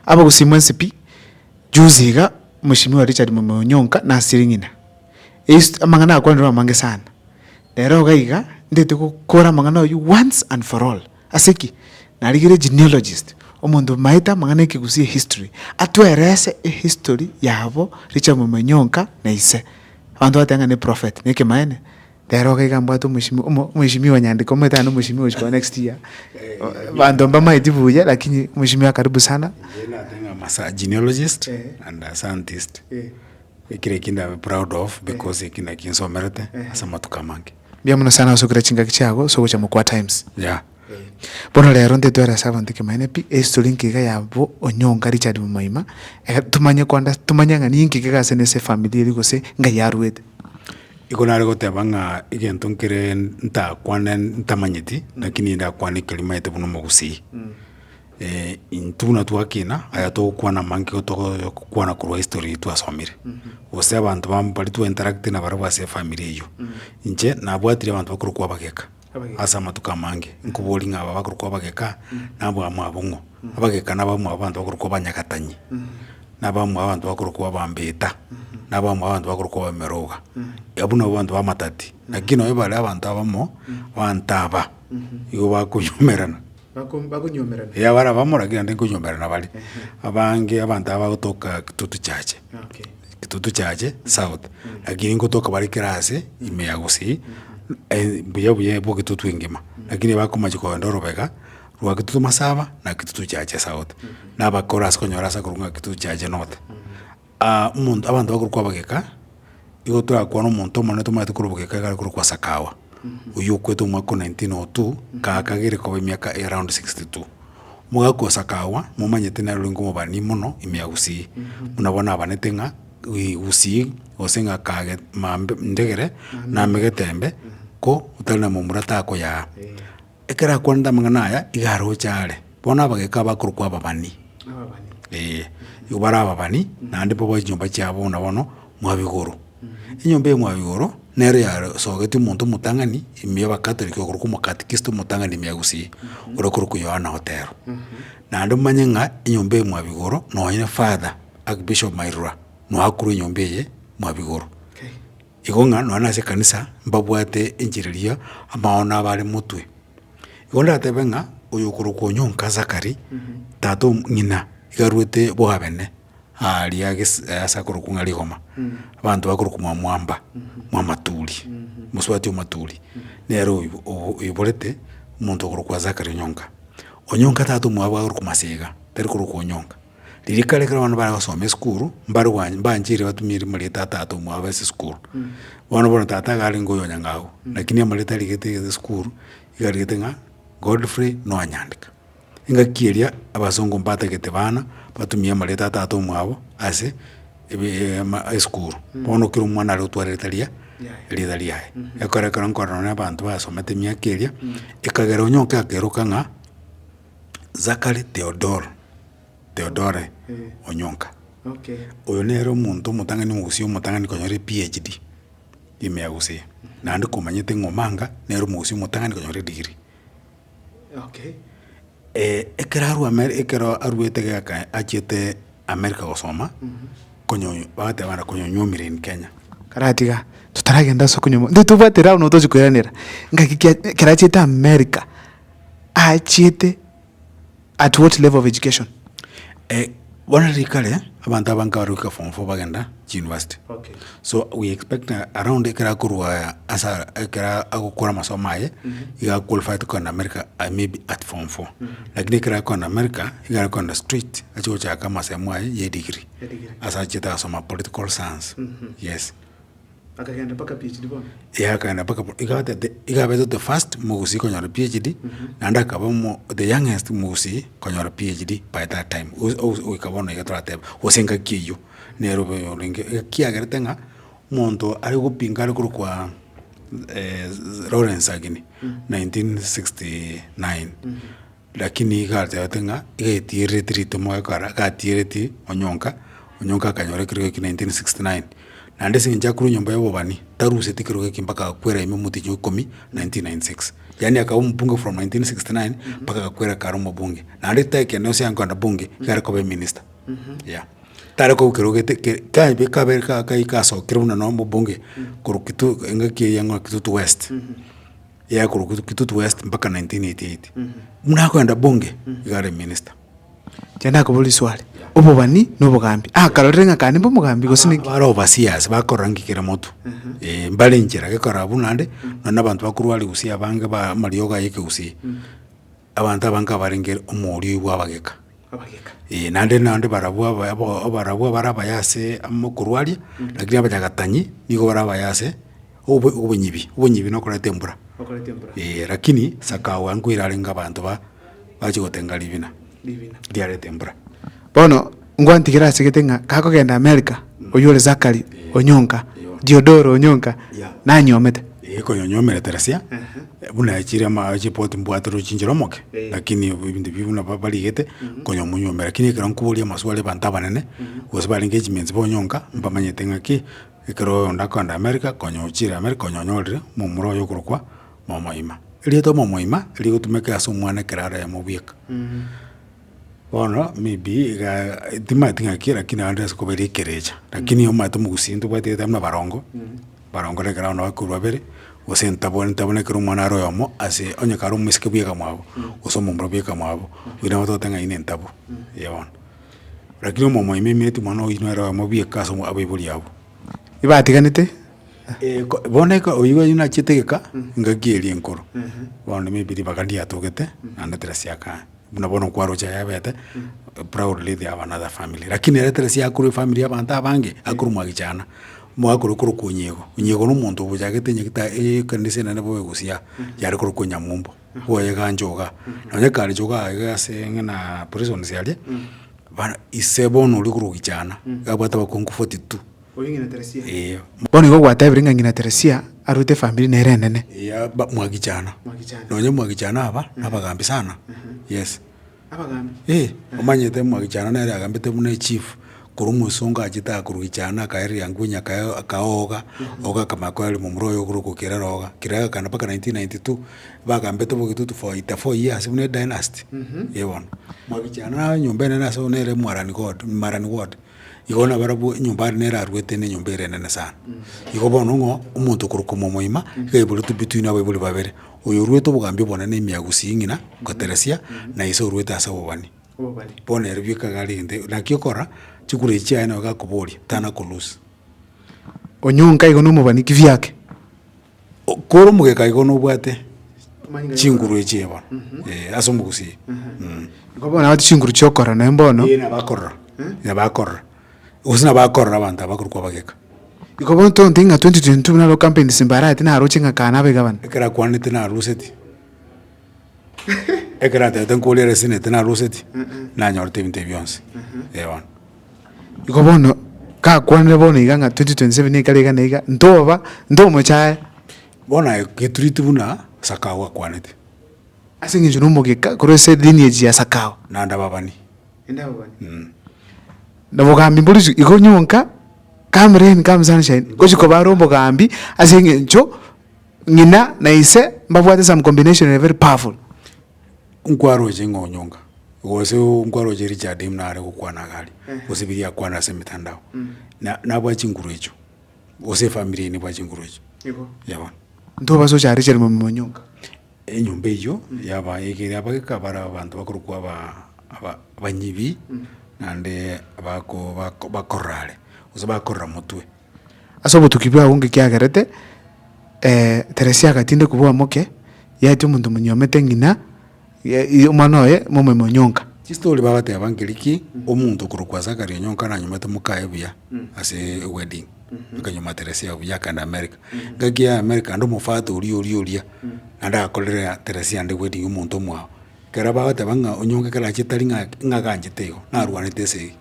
Abagosimwa ense pi, juzi iga Mheshimiwa Richard Mwemoi Onyonka nasire ng'ina eist- amang'ana akwanire amange sana. Nero iga iga ndete gokora amang'ana ayio once and for all. Ase ki? Narigire genealogist, omonto omaete amang'ana ekegusii ehistory, atwerese ehistory yabo Richard Mwemoi Onyonka na ise. Abanto bateba ng'a neprophet, nekemaene? Ere iga iga mbwate omosimi omo- omosimi onyandeka omanyete naende omosimi ogochia korwa next year, banto mbamaeti buya lakini omosimi oye karibu sana. Inche nateba ng'a am a sa- genealogist Eh. and a scientist, Eh. ekero ekio ndabe proud of because ekio nakio nsomerete ase amatuko amange. Mbuya mono sana osubire chingaki chiago ase ogocha mokuaa times. Yeah. Bono rero ntitwera ase abanto ekemanyererio pi, ehistory nkeiga ya bo onyonga Richard Momoima, eh tomanye ko under tomanye ng'a ninki ekeiga ase nese efamiri eria gose ngai arwete. Igo nare goteba ng'a egento nkere ntakwane ntamanyeti, naki nigo ndakwane ekeri maete buna omogusii. intwe buna twakina, aya togokwana amange igo togo kwana korwa history twasomire, gose abanto bam baria twa interactire nabarabwo ase efamiri eywo. Inche nabwatire abanto bakorokwa abageka. Ase amatuko amange nkobori ng'a aba bakorokwa abageka nabamwabo ng'o, abageka nabamwabo abanto bakorokwa abanyagatani, nabamwabo abanto bakorokwa abambeta, nabamwabo abanto bakorokwa abameroga, abwo nabwo abanto bamatati. Lakini nonye bare abanto abamo, abanto aba, igo bakonyomerana. bakonyomerana. Eeh abare abamo lakini naende nkonyomerana bare, abange abanto aba bagotoka Kitutu church, Kitutu church south, lakini nkotoka bare kera ase ime ya gusii, buya buya bwa Kitutu engima, lakini ebakomachia kogenda orobega rwa Kitutu Masaba na Kitutu church south, nabakora ase konyora ase akorwa ng'a Kitutu church north. Aa, omonto, abanto bakorwa kwa Bageka, igo torakwane omonto omonene tomanyete korwa Bogeka igare korwa kwa Sakawa, oyio okwete omwaka o 1902, gaka gere koba emiaka eye round 62. Omogaka o Sakawa momanyete nere orenge omobani mono ime ya Gusii, buna bono nabanete ng'a ii Gusii gose ng'a kage mambe ndegere namegete embe ko otari na momura takoyaa. Ekero akwanete amang'ana aya, iga aroche aare, bono abagaka abakorokwa ababani, ee, nigo bare ababani, naende mbobe chinyomba chiabo buna bono mwabigoro. Enyomba eye mwabigoro, nero yaro sogetwe omonto omotang'ani, ime ya abakatoliki okorokwa omokatikisto omotang'ani ime ya Gusii, oria okorokwa Yohana Otero. Naende omanye ng'a enyomba eye mwabigoro, nonye father, archbishop Mairura, noakorwa enyomba eye mwabigoro. Igo ng'a nonya nase ekanisa mbabwate enchera eria amao nabo are motwe. Igo ndatebe ng'a oyokorokwa onyonka Zakari, tata o ng'ina, iga arwete bwabene aaria ges- ase akorokwa ng'a Rigoma, abanto bakorokwa mwa mwamba, mwa maturi, mosubati o maturi, nere oib- obo- oiborete omonto okorokwa Zakari onyonka. Onyonka tata omwabo akorokwa Masega, tari korokwa onyonka. Ririka ekero bono bare gosoma esukuru, mbare gwan- mbanchire batumie erimo ria tata ata omwabo base esukuru. Bono bono tata iga arenge oyo nyang'a agwo, lakini amanyete arigete egento esukuru, iga arigete ng'a Godfrey Noah Nyandika. Engaki eria abasongo mbatagete bana, batumie erimo ria tata ata omwabo ase ebe- ama- esukuru. Bono kera omwana are gotwara erita ria erita riaye. Ekero ekero nkorana na abanto basomete emiaka eria, ekagera onye oke akeroka ng'a. Zachary Theodore, Theodore Onyonka. Okay. Oyo nere omonto omotang'ani omogusia omotang'ani konyora ePHD, ime ya gusii. Naende komanyete ng'a Omanga nere omogusia omotang'ani konyora edegree. Okay. ekero arwa Amer ekero arwete geka achiete America gosoma, konyo bagateba bana konyonyomire in Kenya. Karatiga, totaragenda ase okonyoma, intwe tobwate round tochi koeranera, ngaki ki- ekero achiete America, achiete at what level of education? Bono riria kare abanto abange baruika form four bagenda chiuniversity. So we expect around ekero akorwa ase ekero agokora amasomo aye iga aqualify to kogenda America maybe at form four. Lakini ekero akogenda America iga arikogenda straight achi gochaka amasemo aye ya edegree ase achiete gosoma political science. Yes. Akagenda mpaka PHD bono. Ee akagenda mpaka bo- iga batete iga abete the first mogusii konyora PHD, naende akaba omo the youngest mogusii konyora PHD by that time ogo- ogo- ogoika bono iga torateba gose engaki eywo nere obe orenge ekiagerete ng'a omonto are gopinga are korokwa Lawrence Ageni nineteen sixty nine. Lakini iga atebete ng'a igatigerereti ritemo ekara gatigereti onyonka, onyonka akanyora ekerogo ekio 1969. Naende ase eng'encho akorwa enyomba y'obobani, taruseti ekerogo ekio mpaka agakwera ime omotienyi o ikomi 1996. Yaani akaba omobunge from 1969 mpaka agakwera kare omobunge. Naende tekene gose ankogenda bunge, igare koba eminista. Yeah. Tare kobua kerogo gete ke kabe kabe ka kaika asokire buna noo omobunge korwa kitui engaki eye yang'wa kitutu west. yaye korokwa Kit- kitutu west mpaka 1988 buna akoenda bunge iga are minister Chanda akabora iswali. Obobani na obogambi. Ah, karorire ng'a kande mbe omogambi gose niki. bare overseers bakorora nki kera motu eh, mbare enchera gekorora buna ande nonye na abanto bakorwariwa gusii abange ba amariogo aye ekegusii Abanto abange abarenge omoorio oigwa abageka. Abageka. Ee, naende naende barabwo aba- abo- abarabwo abare abaya ase amo okorwaria, lakini abanyagatanyi nigo bare abaya ase obo- obonyibi, obonyibi nokoreta embura. Okoreta embura. Ee, lakini sakao ango erarenge abanto ba- bache gotenga ribina. Ribina. Riareta embura. Bono ngwantigera asegete ng'a gakogenda America, Mm. oywo ore Zachary Eh. onyonka, Eyoo. Diodoro onyonka, Yeah. nanyomete. Eeh konyonyomerete rasia, Eeh. buna achire ama chipoti mbwate rochinchera omoke, Eeh. lakini obo ebinto ebi buna ba- barigete, Mhm. konyomonywomera. Lakini ekero nkoboria amaswali abanto abanene, Mhm. gose barenge echiminsi bonyonka, mbamanyete ng'aki, ekero oyonde akogenda America, konya ochire America, konya onyorire momura oye okorokwa Mwamoima. Erieta Mwamoima, rigotumeka ase omwana ekero aremo bweka. Mhm. Bono maybe iga timanyeti ng'a ki lakini naende ase koba ere ekerecha, lakini omanyete omogusii ntobwati gete buna abarongo, abarongo na ekero abana bakorwa babere, gose ntabwani ntabwo na ekero omwana are oyomo ase onye kare omosike bweka mwabo, gose omomura bweka mwabo, oywo nabo togote ng'a oyio ntabwo, eeh bono. Rakini omomo oimemetie omwana oyio nere oyomo bweka ase omo abaibori abwo. Ebatiganete? Eeh ko bono eka oyio oyio nachiete egeka, engaki eria enkoro, bono maybe ribaga riatogete, naende terasiakana. buna bono nkwaroche ayabete proudly they have another family lakini ere tari ase akorwa efamiri ya abanto abange akorwa mwagichana mwakorwa korokwa onyigo onyigo na omonto obochagete onye gete ekanisa enene bobe egosia yare korokwa onyamumbo bwoyegancha igaa nonye kare igaa iga ase ng'ina prisons aria ise bono oria okorogichana iga abwate abakungu forty two. Ee. Bono igo gwatebire ng'a ng'ina Teresia arwete efamiri nere enene. Ee, aba mwagichana. Mwagichana. Nonye mwagichana aba, nabagambi sana. Yes. Abagambi? Ee, omanyete mwagichana nere agambete buna echief, korwa omosongo achete aa korwa gichana akae riangunya akae akae oga, oga akamanya koereria momura oyo ogure ogokerera oga. Kere agakana mpaka nineteen ninety two, bagambete bo egitutu for eighty four years buna edynasty. Ee bono. Mwagichana nyomba enene ase buna ere Mwarani God, Marani Ward. Igo nabarabwo enyomba are nere aruete ne enyomba ere enene sana. Igo bono ng'o omonto okorokwa mwamoima, iga aibore tobio twino abaibori babere, oyo oruete obogambi obonene na emiyagu sing'ina goteresia, na ise oruete ase obobani. Bono ere bioka iga are egento naki okora, chikura echi chiaye nabo igakoboria, tana kolusia. Onyonka igo nomobani ki biake? Kore omogeka igo nobwate chinguru echio bono eh, ase omogusii mm. Igo bono nabwate chinguru chiokorora naende bono. Ee nabo akorora nabo akorora gose nabo akorora abanto aba akorokwa abageka. Igo bono tontege ng'a 2022 buna aro campaigns mbaraete naroche ng'a kaa nabe gavana. Ekero akwanete naroseti. Ekero natete nkore ere senete naroseti, nanyorete ebinto ebi bionsi, eh bono. Igo bono, gakwanire bono iga ng'a twenty twenty seven ekare iga na iga, ntoba, ntomochaye. Bono aye getureti buna sakao akwanete. Ase eng'encho na omogeka korwa ase lineage ya sakao. Naende ababani. Naende ababani. Mh. Na obogambi mbore isiko, igo nyonka, come rain, come sunshine, ngochia koba are obogambi ase eng'encho. Ng'ina na ise mbabwate some combination ere very powerful. Nkwaroche ng'a onyonga, gose oo nkwaroche Richard buna are gokwana iga aria, gose biria akwana ase emetandao, na nabwate chinguru echio, gose efamiri eye nebwate chinguru echio, ya bono. Ntobase ocha Richard Mwami Monyonga. Enyomba eyio yaba egere abageka bare abanto bakorokwa aba aba abanyibi, naende abako bako bakorora are, gose bakorora motwe. Ase obotuki bwao ngekiagerete, eh, Teresia agatinde kobua omoke, yaetia omonto monyuomete ng'ina, ye- ye- omwana oye momoime onyonka. Chistori bagateba nkeri ki omonto korokwa Zachary Onyonka nanyomete mokaye buya ase wedding akanyoma Teresia buya akagenda America. Ngaki aye America naende omofata oria oria oria naende agakorere Teresia ande wedding omonto omwao. Ekero bagateba ng'a Onyonka ekero achete tari ng'a ng'a aganchete igo narwanete esegi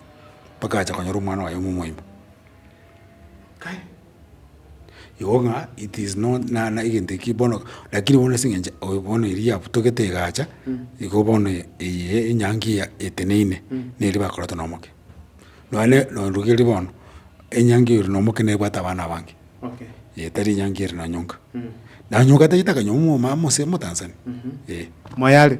mpaka acha konyora omwana oye momoima. Kai, igo ng'a it is not na na egento ekio bono lakini bono ase eng'encho oyo bono eria yabutogete egacha, igo bono eye enyangi eya eteneine, neri bakorete na omoke. Nonya ne no rigereiri bono, enyangi ere na omoke nebwate abana abange, eh tari enyangi ere na nyonka. Na nyonka tagete akanyowa omwomama ase omotanzania, eh. Moyare.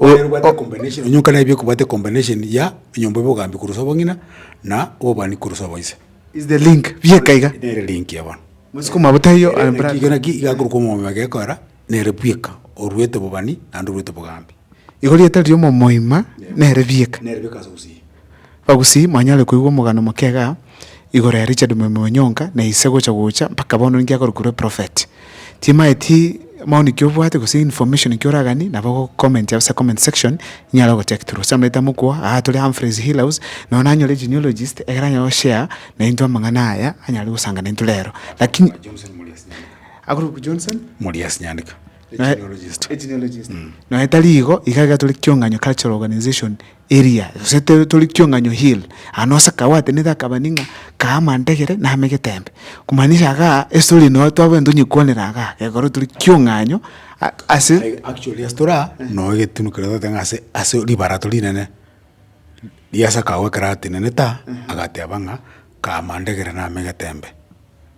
Oye obwate o- combination, onye onkana ebi okobwate combination ya enyomba y'obogambi korwa ase obong'ina na obobani korwa ase oboise. Is the link bieka iga. Nere link eye bono. Mosike omabota eyo Ere link iga naki iga akorokwa omomio oye gekoera nere bweka oruete obobani naende oruete obogambi. Igo rieta ri'omomo oima nere bieka. Nere bieka ase obosie. Bagusii, mwanyare koigwa omogano omoke iga igoro ya Richard Mwemwe Onyonka na ise gocha gocha mpaka bono ninki akorukerwa eprofet. Timaeti maoni ki obwate gose information ki oraganie nabo ogo comment ase comment section inyare ogo check through. Ase amang'ana aitano mokwo aa tore Humphreys Hill House nonya nanyore genealogist ekero anyare go share na intwe amang'ana aya anyare gosanga naintwe rero lakini akorokwa Johnson Muriasi Nyandeka, a genealogist. Nonya tari igo iga iga tore Kiong'anyo Cultural Organization eria, gose to- tori Kiong'anyo hill, aye nonsi akabatenete akabani ng'a kaa amantegere name getembe, kumaanisha igaa estory eye noo twabwenerete tonyekwanera igaa, ekero tore Kiong'anyo a- ase. Aye actually ase toraa, noo egetunu keria toteba ng'a ase ase ribarato rinene, riase akagoa ekero atenenete aa, agateba ng'a kaa amantegere name getembe.